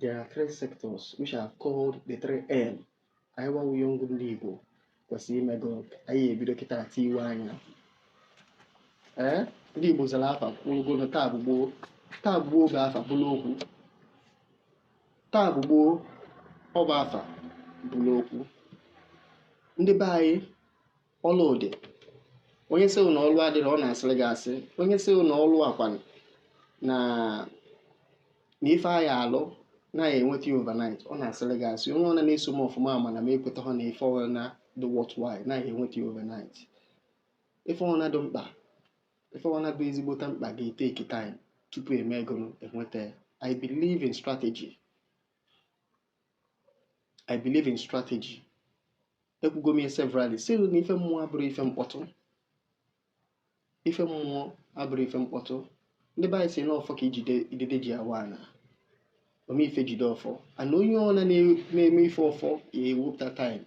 There are three sectors which are called the three M. I want young ndị Igbo kwesịrị ime gụnụ anyị ebido kịta tiwe anya. Ee, ndị Igbo zara afa kwurugo na taa bụ gboo. Taa bụ gboo bụ afa buru okwu. Taa bụ gboo ọ bụ afa buru okwu. Ndị be anyị ọlụ dị onye sị na ọlụ adịrọ ọ na-asịrị gị asị onye sị na ọlụ akwanụ na na ife a ya-alụ na a ya-enweta ya overnight ọ na-asịrị gị asị onye ọna na-eso m ọfụma ma na m ekwetaha na ife ọna dị worthwhile na a ya-enweta ya overnight ife ọna dị mkpa ife ọna dị ezigbota mkpa ga-etake time tupu e mee gụnụ enweta ya i believe in strategy i believe in strategy ekwugo m ya severally sị na ife mmụọ abụrọ ife mkpọtụ ife mmụọ abụrọ ife mkpọtụ ndị be anyị sị na ọfọ ka idide ji awa ana ome ife jide ọfọ and onye ọna na-eme ife ọfọ ya-ewepụta time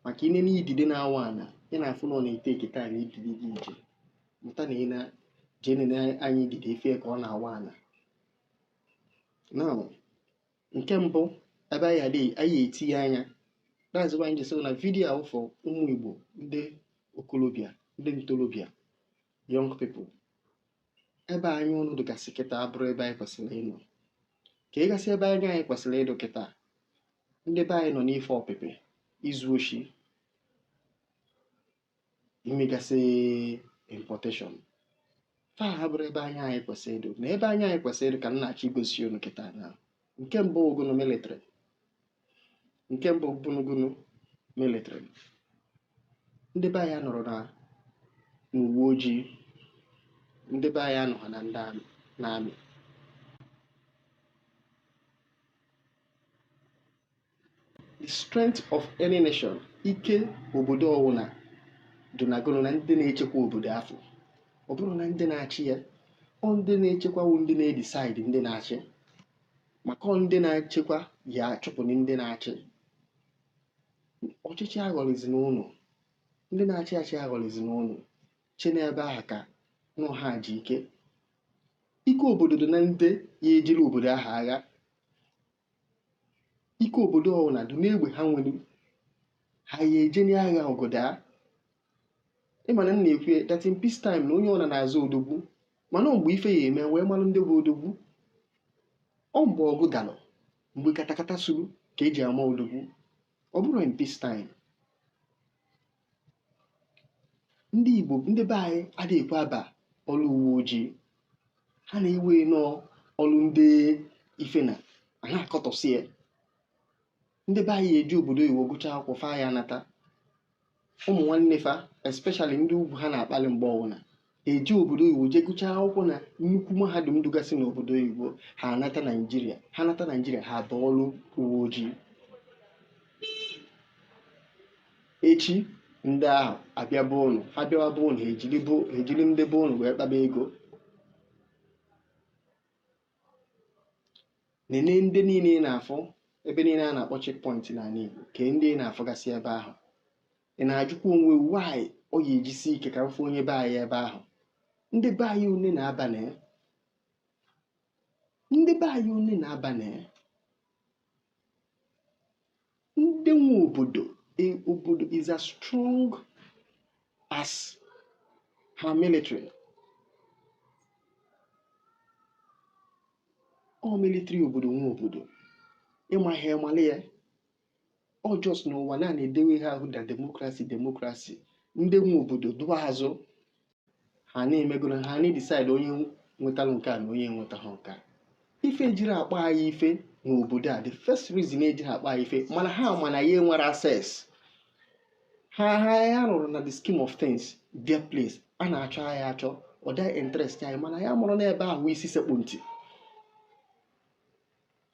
maka i nee na idide na-awa ana ị na-afụ na ọ na-etake time idide ji eje mụta na ị na jee nene anya idide ị fụ ka ọ na-awa ana now nke mbụ ebe anyị ya-etinye anya that's why anyị ji sị na video a wụ for ụmụ igbo ndị okolobịa ndị ntorobịa young people ebe anya unu dịgasị kịta abụrọ ebe anyị kwesịrị ịnọ ka ịgasị ebe anya anyị kwesịrị ịdụ kịta ndị be anyị nọ n'ife ọpịpị izu oshi imegasị importation mba ha abụrọ ebe anya anyị kwesịrị ịdụ na ebe anya anyị kwesịrị ịdụ ka m na-achọ igosi unu kịta na nke mbụ ọ gụnụ military nke mbụ bụnụ gụnụ military ndị be anyị anọrọ na n'uwe ojii ndị be anyị anọghị na ndị army na army the strength of any nation ike obodo ọwụna dị na gụnụ na ndị na-echekwa obodo afụ ọ bụrọ na ndị na-achị ya ọ ndị na-echekwa wụ ndị na-edecide ndị na-achị maka ọ ndị na-echekwa ya-achụpụ ndị na-achị ọchịchị aghọrịzi unu ndị na-achị achị aghọrịzi unu chee n'ebe ahụ ka na ha ji ike ike obodo dị na ndị ya-ejere obodo ahụ agha ike obodo ọwụna dị n'egbe ha nwere ha ya-eje n'agha ọgụ daa ị ma na m na-ekwu ya that in peace time na onye ọna na-aza odogwu mana ọ mgbe ife ya-eme e wee malụ ndị bụ odogwu ọ mgbe ọgụ dalụ mgbe katakata suru ka eji ama odogwu ọ bụrọ in peace time ndị Igbo ndị be anyị adịghị ekwe aba ọrụ uwe ojii ha na-ewe na ọ ọrụ ndị ife na a na-akọtọsị ya ndị be anyị eje obodo oyibo gụcha akwụkwọ fa ya nata ụmụ nwanne fa especially ndị ugwu ha na-akpali mgbe ọwụna eje obodo oyibo jee gụchaa akwụkwọ na nnukwu mahadum dụgasị n'obodo oyibo ha anata naijiria ha nata naijiria ha abaa ọrụ uwe ojii echi ndị ahụ abịa be ụnụ ha bịawa be ụnụ ha ejiri bụ- ha ejiri ndị be ụnụ wee kpaba ego nene ndị niile ị na-afụ ebe niile a na-akpọ checkpoint n'ala igbo kee ndị ị na-afụgasị ebe ahụ ị na-ajụkwa onwe why ọ ya eji sie ike ka ị fụ onye be anyị ebe ahụ ndị be anyị one na-aba na ya ndị be anyị one na-aba na ya ndị nwe obodo e- obodo is as strong as her military ọ military obodo nwe obodo ị maghị mali ya ọ just n'ụwa na na-edewe ihe ahụ da democracy democracy ndị nwe obodo dụ n'azụ ha na-emegoro ha na-edecide onye nwetara nke a na onye nwetaghị nke a ife ejiri akpa anyị ife n'obodo a the first reason ejiri akpa anyị ife mana ha ma na anyị enwerọ access ha ha anyị anọrọ na the scheme of things their place a na-achọ anyị achọ ọ dịghị interest anyị mana ya mụrụ n'ebe ahụ isi sekpu ntị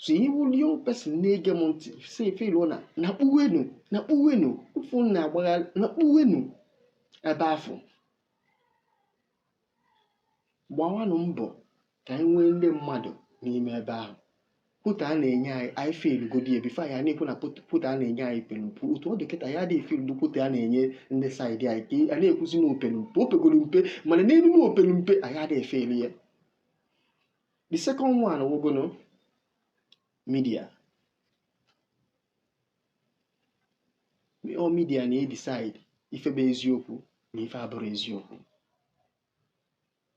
so ị wụrụ young person na-ege m ntị ị feel na na kpuwenu na kpuwenu ụfụ na-agbagharị na kpuwenu ebe afụ gbawanụ mbọ ka anyị nwee ndị mmadụ n'ime ebe ahụ quota a na-enye anyị anyị fillgodi ya before anyị na-ekwu na quota a na-enye anyị pelu mpe otu ọ dị kịta anyị adịghị filldu quota a na-enye ndị side anyị ka a na-ekwuzi na o pelu mpe o pegoro mpe mana n'elu na o pelu mpe anyị adịghị efill ya the second one wụgọnụ media ọ media na-edecide ife bụ eziokwu na ife abụrọ eziokwu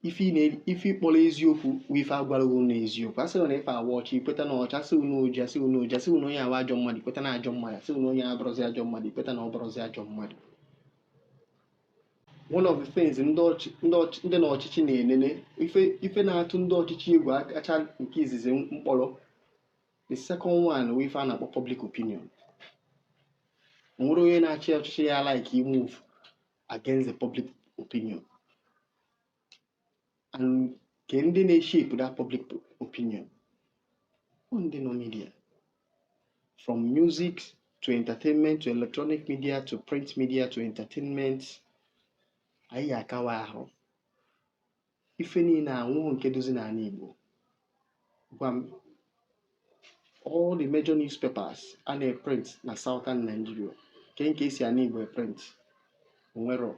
ife ị kpọrọ eziokwu wụ ife a gwara gị na ọ eziokwu a sị gị na ife a wụ ọcha i kweta na ọ ọcha a sị gị na ọ oji a sị gị na ọ oji a sị gị na onye a wụ ajọ mmadụ i kweta na ọ ajọ mmadụ a sị gị na onye a abụrọzi ajọ mmadụ i kweta na ọ bụrọzi ajọ mmadụ one of the things ndị ọchị- ndị ọchị- ndị nọ n'ọchịchị na-enene ife ife na-atụ ndị ọchịchị egwu akacha nke izizi m kpọrọ the second one wụ ife a na-akpọ public opinion o nwerọ onye na-achị ọchịchị ya like imove against the public opinion and kee ndị na-eshape that public opinion ọ ndị nọ media from music to entertainment to electronic media to print media to entertainment anyị akawa ahụ ife niile a onwero nke dịzi n'ala Igbo gwa m all the major newspapers a na-eprint na southern Nigeria kee nke esi ana Igbo eprint onwero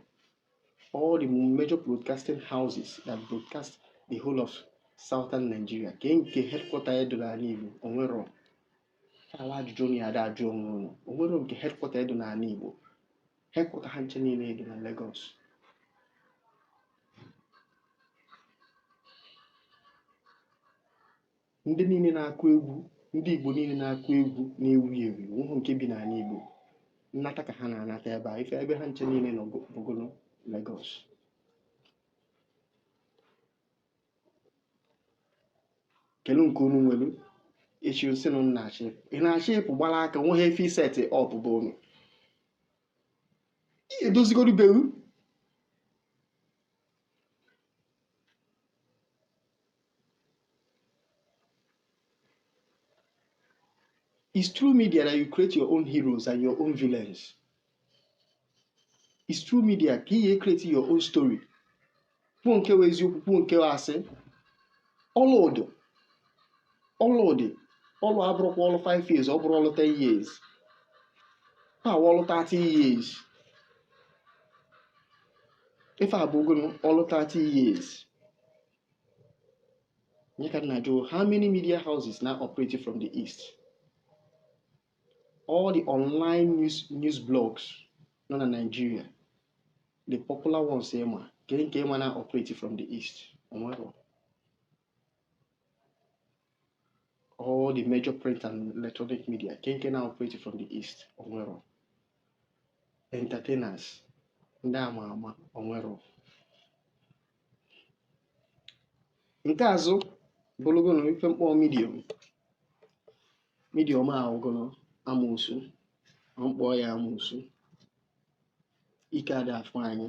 all the major broadcasting houses that broadcast the whole of southern Nigeria kee nke headquarter ya dị n'ala Igbo onwero ala ajụjụ na ya ada ajụ onwe unu onwero nke headquarter ya dị n'ala Igbo headquarter ha ncha niile dị na Lagos ndị niile na-akụ egwu ndị igbo niile na-akụ egwu na-ewu ewu ụhụ nke bi n'ala igbo nnata ka ha na-anata ebe a ife ebe ha ncha niile nọ bụgolo Lagos kedụ nke unu nwelu echi si na nna achị ị na-achị ịpụ gbara aka nwe ha ife iseti up bụ unu edozigoro beru It's through media that you create your own heroes and your own villains. It's through media ka ị create your own story. Kwuo nke wụ eziokwu, kwuo nke wụ asị. Ọlụ dị, ọlụ dị, ọlụ abụrọkwa ọlụ 5 years, ọ bụrọ ọlụ 10 years. Ife a wụ ọlụ 30 years. Ife a bụgonu ọlụ 30 years. ọ ya ka m na-ajụ how many media houses na-operate from the east all the online news blogs nọ na Nigeria the popular ones ị ma, kee nke ị ma na-operate from the east onwero all the major print and electronic media kee nke na-operate from the east onwero entertainers ndị ama ama onwero nke azụ bụrụgono ife m kpọ medium medium a wụgono amoosu ọ m kpọ ya amoosu ike ada afọ anyị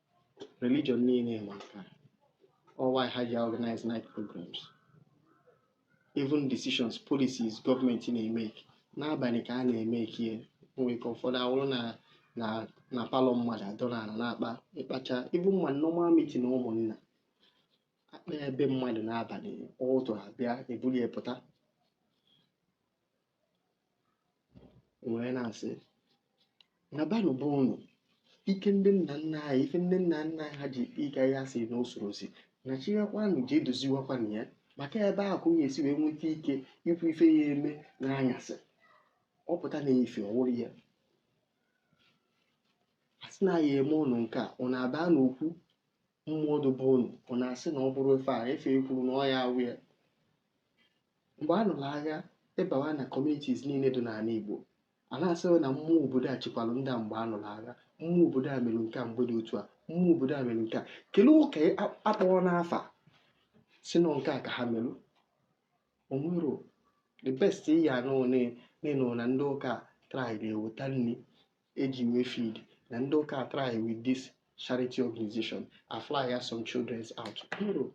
religion niile ma nke a ọ why ha ji organize night programs even decisions policies gọọmenti na-emake n'abalị ka a na-emake ya nwere ike ụfọdụ awụrụ na palọ mmadụ anọrọ ala na-akpa ịkpacha ife ma normal meeting ụmụnna akpa ebe mmadụ n'abalị ụtụtụ abịa ebuli ya pụta wee na-asị na banụ bụ ụnụ ike ndị nna nna anyị ife ndị nna nna anyị ha ji ike ya si na usoro si na-achịwakwanụ ji edoziwakwanụ ya maka ebe ahụ ka ọ ya esi wee nweta ike ikwu ife ya eme n'anyasị ọ pụta na ife ọ wụrụ ya a sị na ya eme ụnụ nke a ọ na-aba n'okwu mmụọ dobe ọnụ ọ na-asị na ọ bụrụ ife a ife e kwuru na ọ ya awụ ya mgbe a nụrụ agha ị bawa na communities niile dị n'ala Igbo a na-asị na mmụọ obodo a chekwara ndị a mgbe a nụrụ agha mmụọ obodo a mere nke a mgbe dị otu a mmụọ obodo a mere nke a kelee ụka a kpọrọ n'afa sị na nke a ka ha merụ o nwerọ the best ị ya anụ n'ịnụ na ndị ụka try na-eweta nri e ji wee feed na ndị ụka try with this charity organization a fly ya some children's out o nwerọ.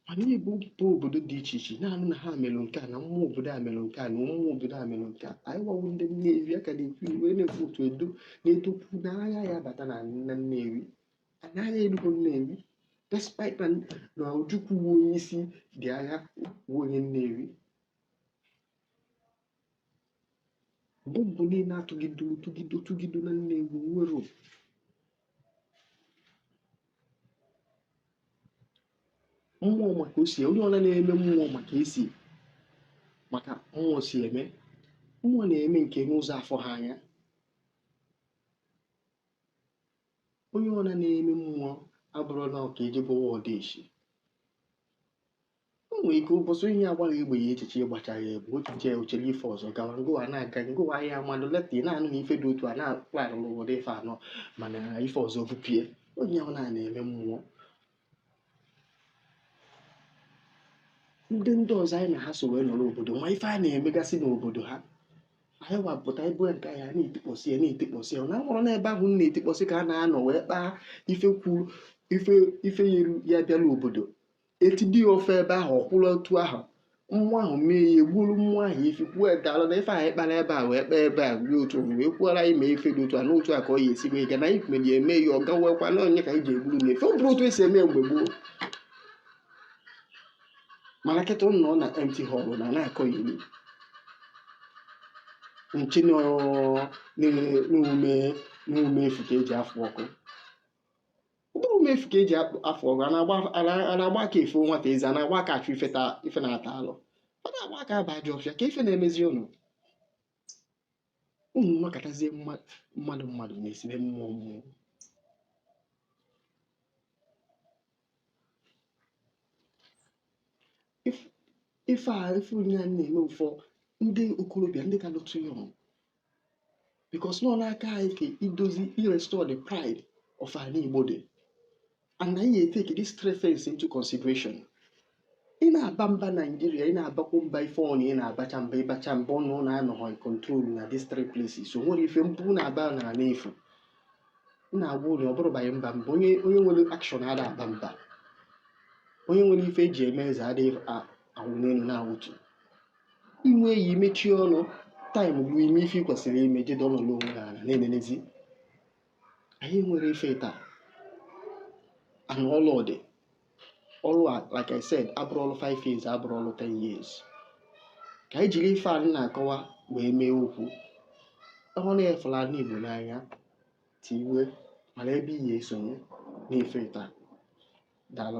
mana Igbo bụ obodo dị iche iche ị na-anụ na ha mere nke a na mmụọ obodo a mere nke a na mmụọ obodo a mere nke a anyị gwawo ndị Nnewi ha ka na-ekwu wee na-ekwu otu Edo na Edo kwu n'agha ya abata na nna Nnewi anaghị erugo Nnewi despite na na Ojukwu wụ onye isi ndị agha wụ onye Nnewi bọmbụ niile atụgido tụgido tụgido na Nnewi nwere mmụọ maka o si onye ọla na-eme mmụọ maka esi maka mmụọ si eme mmụọ na-eme nke n'ụzọ afụ ha anya onye ọna na-eme mmụọ abụrọ na ọ ka eje egbuwa odeshi o nwere ike ụbọchị onye a gbara egbe ya echiche ị gbacha ya egbe otu jee ochere ife ọzọ gawa ngụwa na-aga ngụwa ahịa mmadụ later ị na-anụ na ife dị otu a na-akpalị n'obodo ife anọ mana ife ọzọ gbupie onye ahụ na-eme mmụọ ndị ndị ọzọ anyị na ha so wee nọrọ obodo ma ife a na-emegasị n'obodo ha anyị wa pụta ebe nke anyị na-etikpọsị ya na-etikpọsị ya na nwụrụ n'ebe ahụ na-etikpọsị ka a na-anọ wee kpaa ife kwuru ife ife ya eru ya bịara obodo etidi ya ofe ebe ahụ ọ kwụrụ otu ahụ mmụọ ahụ mee ya e gburu mmụọ ahụ isi kwuo daalụ na ife anyị kpara ebe a wee kpaa ebe a dị otu o wee kwuola ime ife dị otu a n'otu a ka ọ ya esi wee gaa na anyị mere ya eme ya ọ gawekwa na onye ka anyị ji egburu na ife ọ bụrụ otu esi eme mgbe gboo mana kịta ụnụ nọ na empty hall na na-akọyeri na-eche na ọ n'ume n'ume efu ka e ji afụ ọkụ ọ bụrọ m efu ka eji afọ ọgụ a na-agba aka afụ nwata eze a na-agba aka achụ ife na-ata alụ ada agba aka aba ajọ ọfịa ka ife na-emezi ụnụ ụnụ nọkatazie mmadụ mmadụ na-esibe mmụọ mmụọ ife a ife onye a na-eme ụfọ ndị okorobịa ndị ka lụtụ ya ọmụ because na ọ n'aka anyị ka ọ dịzi irestore the pride of ala Igbo dị and na anyị take this three things into consideration ị na-aba mba Nigeria ị na-abakwu mba ife ọnụ ị na-abacha mba ịbacha mba ọnụ ọ na-anọghị control na these three places o nwere ife mba ị na-aba na-ala n'efu na-agwa unu ọ bụrụ banye mba mba onye onye nwere action ada aba mba onye nwere ife eji eme eze adịghị awụ n'elu na-awụtu i nwee ya mechie ọnụ time bụ ime ife ị kwesịrị ime jede ọnọdụ onwe ha ala na-enenezi anyị nwere ife taa and ọlụ dị ọlụ a like I said abụrọ ọlụ 5 years abụrọ ọlụ 10 years ka anyị jiri ife anyị na-akọwa wee mee okwu ọ bụrụ na ị fụlụ ala Igbo n'anya tiwe mara ebe ị ya-esonye n'ife taa daalụ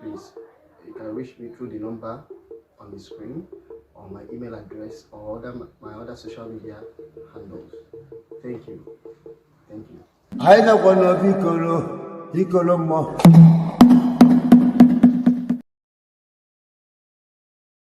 Please, you can reach me through the number on the screen or my email address or other, my other social media handles. Thank you. Thank you. anyị nakwa n'obi ikoro ikoro mmụọ